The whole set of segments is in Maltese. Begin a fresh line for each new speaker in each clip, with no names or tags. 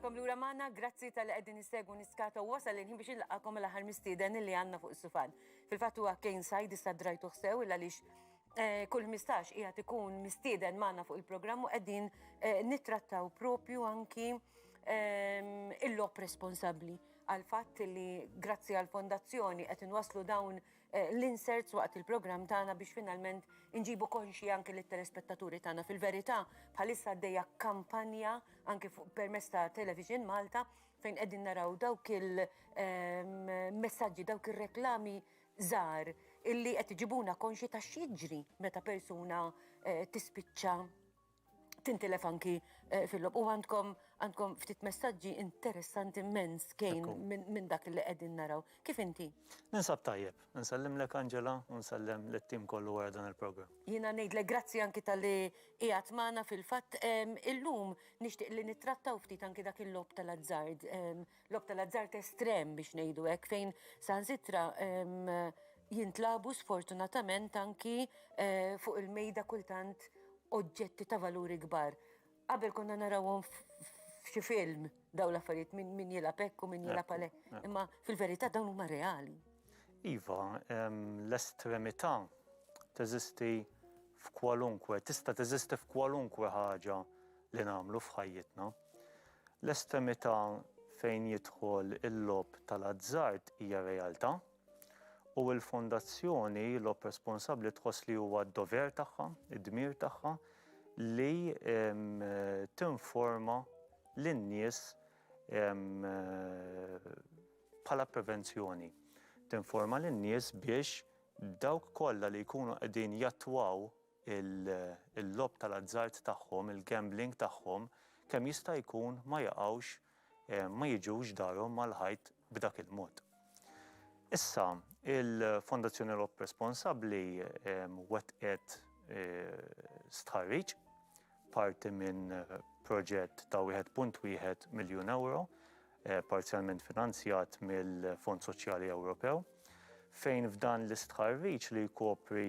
Nilqakom lura magħna, grazzi tal-li qegħdin nistegu niskata u wasal inħin biex nilqakom l-aħħar mistieden li għandna fuq is-sufan. Fil-fatt huwa Kane Sajd issa drajtu ħsew il għaliex Eh, kull 15 qiegħed ikun mistieden magħna fuq il-programm u qegħdin eh, nittrattaw propju anki ehm, il-lop responsabbli għal fatt li grazzi għal fondazzjoni qed inwaslu dawn eh, l-inserts waqt il-programm tagħna biex finalment inġibu konxi anke lit telespettaturi tagħna fil-verità bħalissa għaddejja kampanja anke permezz ta' Television Malta fejn qegħdin naraw dawk il-messaġġi, ehm, dawk ir-reklami żgħar illi qed iġibuna konxji ta' x'jiġri meta persuna tispiċċa tintilef anki eh, fil-lob. U għandkom għandkom ftit messaġġi interessanti immens kejn minn dak li qegħdin naraw. Kif inti? Ninsab tajjeb, nsellim lek Angela u nsellem lit-tim kollu wara dan il-programm. Jiena ngħidlek grazzi anki tal-li qiegħed magħna fil-fatt illum nixtieq li nittrattaw ftit anki dak il-lob tal-azzard Logħob tal-azzard estrem biex ngħidu hekk fejn saħansitra jintlabu sfortunatament anki eh, fuq il-mejda kultant oġġetti ta' valuri kbar. Qabel konna narawhom f'xi film daw l-affarijiet min, min jilab ekku, min jilab għalek. Imma fil-verità dawn huma reali. Iva, l-estremità teżisti f'kwalunkwe, tista' teżisti f'kwalunkwe ħaġa li nagħmlu f'ħajjitna. L-estremità fejn jidħol il-logħob tal-azzard hija realtà u l-Fondazzjoni Logħob Responsabbli tħoss li huwa d-dover tagħha, id-dmir tagħha li tinforma lin-nies bħala prevenzjoni. Tinforma lin-nies biex dawk kollha li jkunu qegħdin jattwaw il-logħob tal-azzard tagħhom, il-gambling tagħhom, kemm jista' jkun ma jaqgħux, ma jiġux darhom mal-ħajt b'dak il-mod. Issa, il-Fondazzjoni Logħob Responsabbli wettqet stħarriġ, parti minn proġett ta' wieħed punt wieħed miljun ewro, parzjalment finanzjat mill-Fond Soċjali Ewropew, fejn f'dan l-istħarriġ li jkopri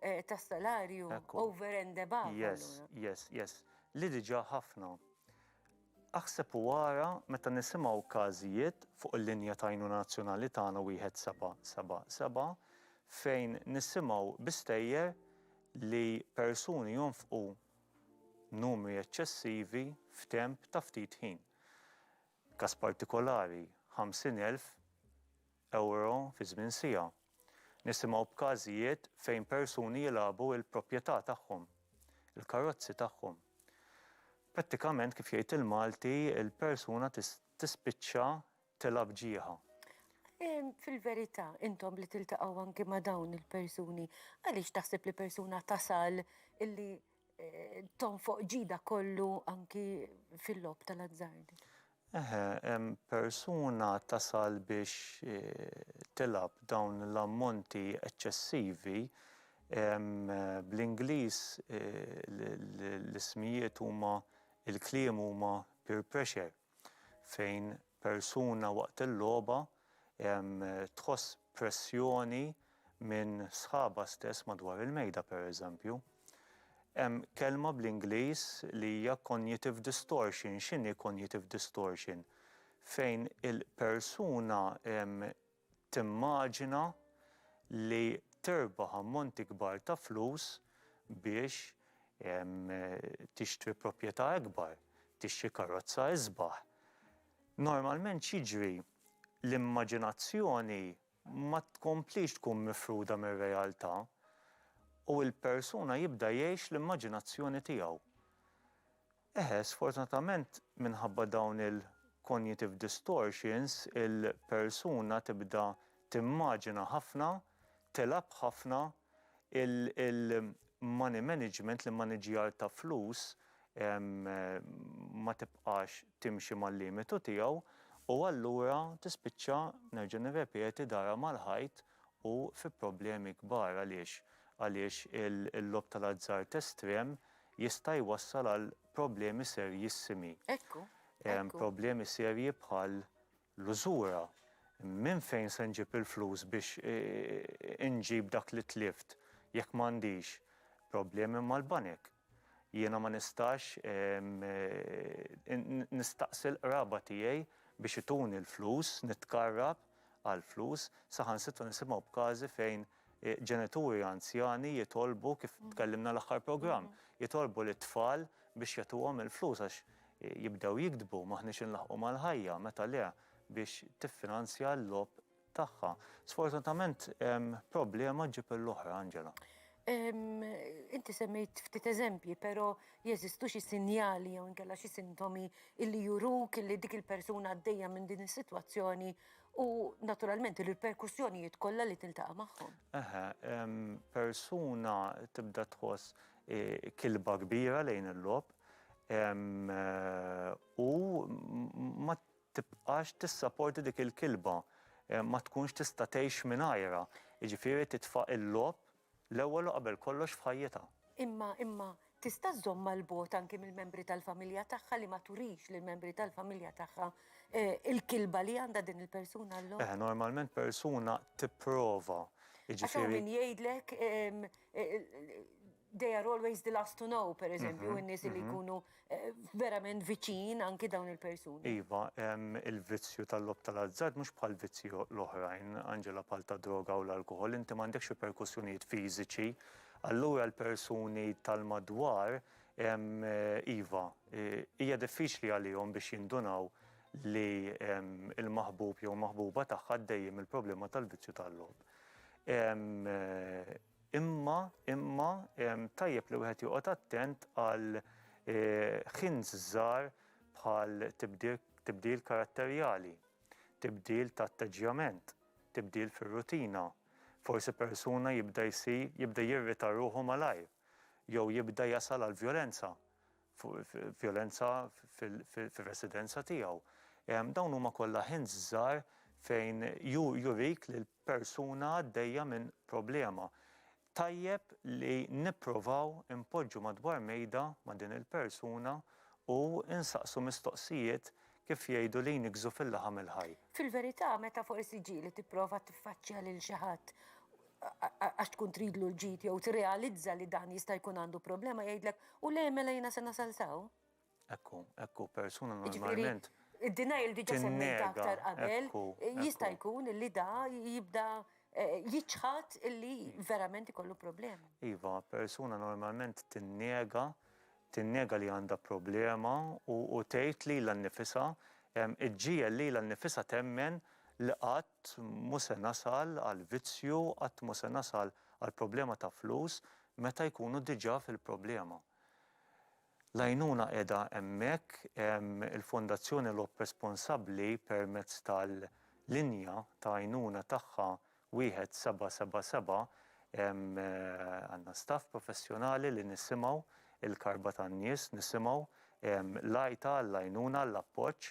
eh, ta' salarju over and above. Yes, yes, yes. Li diġa ħafna. Aħseb u għara meta nisimaw każijiet fuq il-linja tajnu nazzjonali tagħna wieħed seba' seba' seba' fejn nisimaw bistejjer li persuni jonfqu numri eċċessivi f'temp ta' ftit ħin. Kas partikolari, 50,000 Ewro fi żmien siegħa. Nisimgħu b'każijiet fejn persuni jilagħbu l-propjetà tagħhom, il-karozzi tagħhom. Prattikament kif jgħid il-Malti, il-persuna tispiċċa tilgħab ġieħa. Fil-verità, intom li tiltaqgħu anki ma' dawn il-persuni, għaliex taħseb li persuna tasal illi eh, tonfoq ġida kollu anki fil-lob tal-azzard. Eħe, hemm persuna tasal biex eh, tilab dawn l-ammonti eċċessivi eh, bl-Ingliż l-ismijiet huma il-kliem huma peer pressure. fejn persuna waqt il-logħba tħoss pressjoni minn sħabha stess madwar il-mejda pereżempju. Hemm kelma bl-Ingliż li hija cognitive distortion. X'inhi cognitive distortion? Fejn il-persuna timmaġina li tirbaħ ammonti kbar ta' flus biex tixtri proprjetà ikbar, tixtri karozza isbaħ. Normalment x'jiġri? L-immaġinazzjoni ma tkomplix tkun mifruda mir-realtà u l-persuna jibda jgħix l-immaġinazzjoni tiegħu. Eħe, sfortunatament minħabba dawn il-cognitive distortions il-persuna tibda timmaġina ħafna, tilgħab ħafna, il-money management, l-immaniġġjar ta' flus, ma tibqax timxi mal-limitu tiegħu u allura tispiċċa, nerġa' nirrepeti, darha mal-ħajt u fi problemi kbar. Għaliex? Għaliex il-logħob tal-azzard estrem jista' jwassal għal problemi serjissimi. Ekku, ekku. Problemi serji bħal l-użura. Minn fejn se nġib il-flus biex inġib dak li tlift jekk m'għandix? Problemi mal-banek. Jiena ma nistax nistaqsi l-qraba tiegħi biex ituni l-flus, nitkarrab għall-flus, saħansitra nisimgħu b'każi fejn ġenituri anzjani jitolbu, kif tkellimna l-aħħar programm, jitolbu lit-tfal biex jagħtuhom il-flus għax jibdew jigdbu, m'aħniex inlaħħqu mal-ħajja, meta le biex tiffinanzja l-logħob tagħha. Sfortunatament problema ġġib l-oħra, Angela. Inti semmejt ftit eżempji, però jeżistu xi sinjali jew inkella xi sintomi illi juruk illi dik il-persuna għaddejja minn din is-sitwazzjoni U naturalment il-riperkussjonijiet kollha li tiltaqa' magħhom. Aha, persuna tibda tħoss eh, kilba kbira lejn il-lob eh, u ma tibqax tissaporti dik il-kilba, eh, ma tkunx tista' tgħix mingħajra. Jiġifieri titfa' il-lob L-ewwel u qabel kollox f'ħajjitha. Imma, imma, tista' żżommha 'l bogħod anki mill-membri tal-familja tagħha li ma turix lill-membri tal-familja tagħha l-kilba li għandha din il-persuna llum? Eħe, normalment persuna tipprova, jiġifieri. Għax hawn min jgħidlek they are always the last to know, pereżempju, in-nies li jkunu verament viċin anki dawn il-persuni. Iva, il-vizzju tal-lob tal-azzard mhux bħal vizzji l-oħrajn, Angela bħal ta' droga u l-alkohol, inti m'għandekx riperkussjonijiet fiżiċi. Allura l-persuni tal-madwar iva, hija diffiċli għalihom biex jindunaw li l-maħbub jew maħbuba tagħha għaddejjin mill-problema tal-vizzju tal-lob. Imma, imma, tajjeb li wieħed joqgħod attent għal hints żgħar bħal tibdil karatterjali, tibdil ta' atteġġjament, tibdil fir-rutina, forsi persuna jibda jsir, jibda jirrita ruħu malajr, jew jibda jasal għall-vjolenza. vjolenza fir-residenza tiegħu. Dawn huma kollha hints żgħar fejn jurik li l-persuna għaddejja minn problema. Tajjeb li nipprovaw inpoġġu madwar mejda ma' din il-persuna u nsaqsu mistoqsijiet kif jgħidu li jniggżu fil-laħam il-ħaj. Fil-verità, meta forsi ġieli tipprova tiffaċċja lil xi ħadd, għax tkun tridlu l-ġid jew tirrealizza li dan jista' jkun għandu problema jgħidlek u le mela jiena se nasal sew. Ekku, ekku, persuna jiġifieri, normalment. Id-denial diġa semmejt aktar qabel, jista' jkun li da jibda eh, jiċħat illi verament ikollu problemi. Iva, persuna normalment tinnega tinnega li għandha problema u tgħid lilha nnifisha, iġġiegħel lilha nnifisha temmen li qatt mhu se nasal għal vizzju, qatt mhu se nasal għal problema ta' flus meta jkunu diġà fil-problema. L-għajnuna qiegħda hemmhekk, il-Fondazzjoni Lhop responsabbli permezz tal-linja ta' għajnuna tagħha 1777 hemm għandna staff professjonali li nisimgħu l-karba tan-nies, nisimgħu l-għajta għall-għajnuna, għall-appoġġ.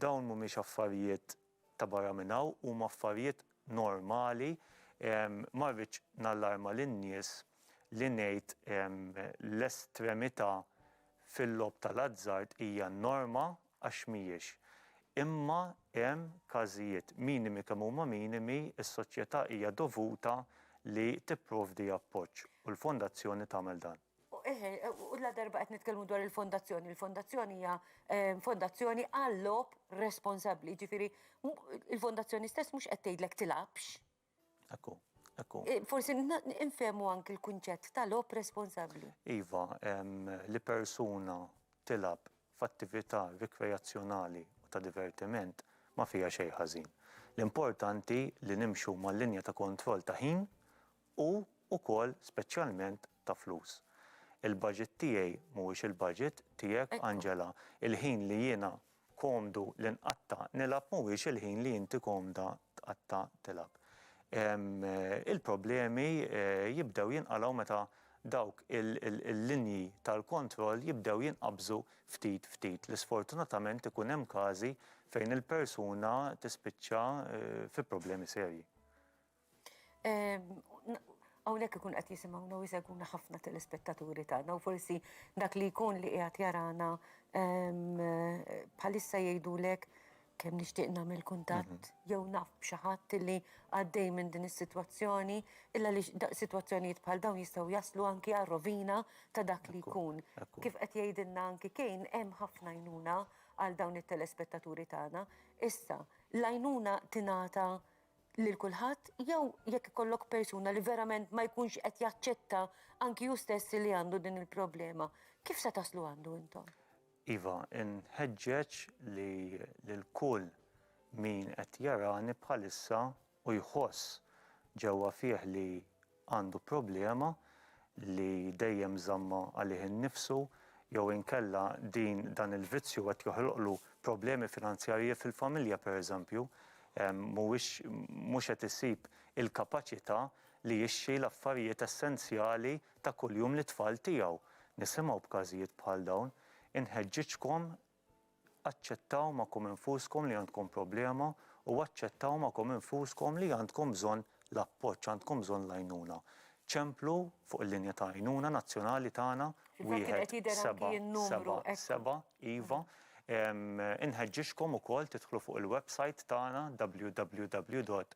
Dawn mhumiex affarijiet ta' barra minn hawn, huma affarijiet normali. Ma rridx nallarma lin-nies li ngħid l-estremità fil-logħob tal-azzard hija n-norma għax mhijiex. Imma hemm każijiet minimi kemm huma minimi, is-soċjetà hija dovuta li tipprovdi appoġġ u l-fondazzjoni tagħmel dan. U ladarba qed nitkellmu dwar il-fondazzjoni, il-fondazzjoni hija fondazzjoni għal-logħob responsabbli, jiġifieri il-fondazzjoni stess mhux qed tgħidlek tilgħabx. Hekk hu, hekk hu. Forsi nfehmu anki l-kunċett ta' logħob responsabbli. Iva, li persuna tilgħab f'attività rikreazzjonali u ta' divertiment ma fiha xejn ħażin. L-importanti li nimxu mal-linja ta' kontroll ta' ħin u wkoll speċjalment ta' flus. Il-budget tiegħi mhuwiex il-budget tiegħek, Angela. Il-ħin li jiena komdu li nqatta' nilgħab mhuwiex il-ħin li inti komda tqatta' tilgħab. Il-problemi jibdew jinqalgħu meta dawk il-linji tal-kontroll jibdew jinqabżu ftit ftit li sfortunatament ikun hemm każi fejn il-persuna tispiċċa fi problemi serji. Hawnhekk ikun qed jisimgħuna u jsegwuna ħafna telespettaturi tagħna u forsi dak li jkun li qiegħed jarana bħalissa jgħidulek kemm nixtieq nagħmel kuntatt jew naf b'xi ħadd li għaddej minn din is-sitwazzjoni illa li sitwazzjonijiet bħal dawn jistgħu jaslu anki għar-rovina ta' dak li jkun. Kif qed jgħidilna anki Kane hemm ħafna għajnuna għal dawn it-telespettaturi tagħna. Issa, l-għajnuna tingħata lil kulħadd jew jekk ikollok persuna li verament ma jkunx qed jaċċetta anki hu stess li għandu din il-problema, kif se taslu għandu intom? Iva, inħeġġeġ li lil kull min qed jarani bħalissa u jħoss ġewwa fih li għandu problema li dejjem żammha għalih innifsu jew inkella din dan il-vizzju qed joħloqlu problemi finanzjarji fil-familja pereżempju mhuwiex mhux qed isib il-kapaċità li jixtri l-affarijiet essenzjali ta' kuljum lit-tfal tiegħu. Nisimgħu b'każijiet bħal dawn. Inħeġġiġkom Aċċettaw magħkom infuskom li għandkom problema u aċċettaw magħkom infuskom li għandkom bżonn l-appoġġ, għandkom bżonn l-għajnuna. Ċemplu fuq il-linja ta' għajnuna nazzjonali tagħna wieħed seba' seba' seba' iva. Inħeġġiġkom ukoll tidħlu fuq il-websajt tagħna www.rgf.org.mt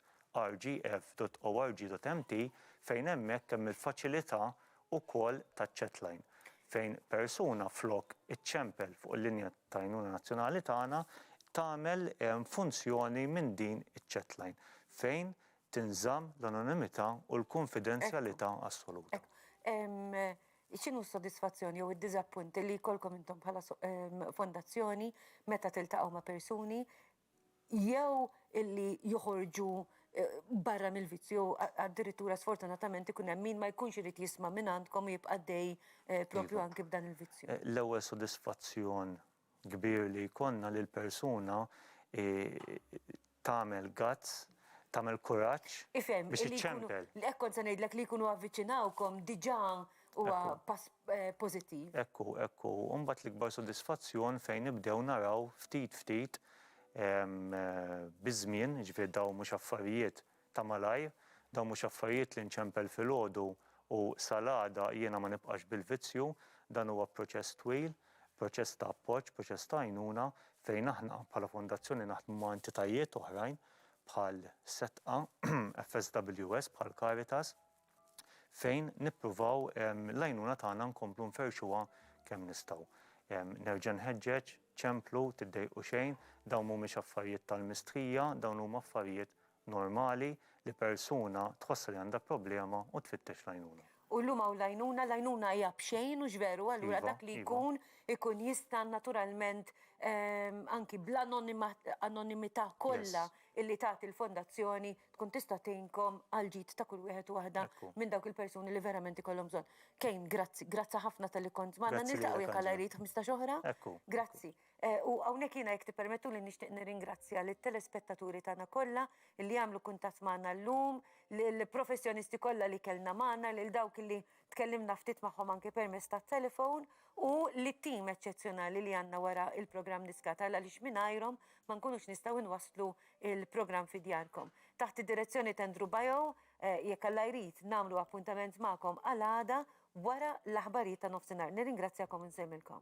fejn hemmhekk hemm il-faċilità ukoll taċ-chatline, fejn persuna flok iċċempel fuq il-linja ta' għajnuna nazzjonali tagħna, tagħmel funzjoni minn din iċ-chatline, fejn tinżamm l-anonimità u l-kunfidenzjalità assoluta. Ekku. X'inhu s-sodisfazzjon jew id-diżappunt li jkollkom intom bħala fondazzjoni meta tiltaqgħu ma' persuni jew illi joħorġu barra mill-vizzju, addirittura sfortunatament ikun hemm min ma jkunx irid jisma' mingħandkom u jibqa' għaddej proprju anki b'dan il-vizzju. L-ewwel sodisfazzjon kbir li jkollna li l-persuna tagħmel guts, tagħmel kuraġġ biex iċċempel. Ifhem, kont se ngħidlek li jkunu avviċinawkom diġà Huwa pass pożittiv. Hekk hu, hekk hu. U mbagħad l-ikbar sodisfazzjon fejn nibdew naraw ftit ftit biż-żmien, jiġifieri dawn mhux affarijiet ta' malajr, dawn mhux affarijiet li nċempel filgħodu u sal-għada jiena ma nibqax bil-vizzju, dan huwa proċess twil, proċess ta' appoġġ, proċess ta' għajnuna fejn aħna bħala fondazzjoni naħdmu ma' entitajiet oħrajn bħal SETQA, FSWS, bħal Caritas. fejn nippruvaw l-għajnuna tagħna nkomplu nferrxuha kemm nistgħu. Nerġa' nħeġġeġ, ċemplu, tiddejqu xejn, dawn mhumiex affarijiet tal-mistħija, dawn huma affarijiet normali li persuna tħossha li għandha problema u tfittex l-għajnuna. U llum hawn l-għajnuna, l-għajnuna hija b'xejn, hux veru? Allura dak li jkun, ikun jista' naturalment anki bl-anonimità kollha illi tagħti l-fondazzjoni tkun tista' tgħinkom għall-ġid ta' kull wieħed u waħda Ekku. minn dawk il-persuni li verament ikollhom bżonn. Kane, grazzi, grazzi ħafna talli kont magħna, Grazzi niltaqgħu lilek, jekk Alla Angela. jrid 15 oħra. Ekku, ekku. Grazzi. Eh, U hawnhekk jiena jekk tippermettuli nixtieq nirringrazzja lit-telespettaturi tagħna kollha li għamlu kuntatt magħna llum, lill-professjonisti kollha li kellna magħna, lil dawk li Tkellimna ftit magħhom anke permezz tat-telefon u lit-tim eċċezzjonali li għandna wara l-programm Niskatal għaliex mingħajrhom ma nkunux nistgħu nwasslu l-programm fi djarkom. Taħt id-direzzjoni t'Andrew Baio, jekk Alla jrid, nagħmlu appuntament magħkom għal għada wara l-aħbarijiet ta' nofsinhar. Nirringrazzjakom u nsellmilkom.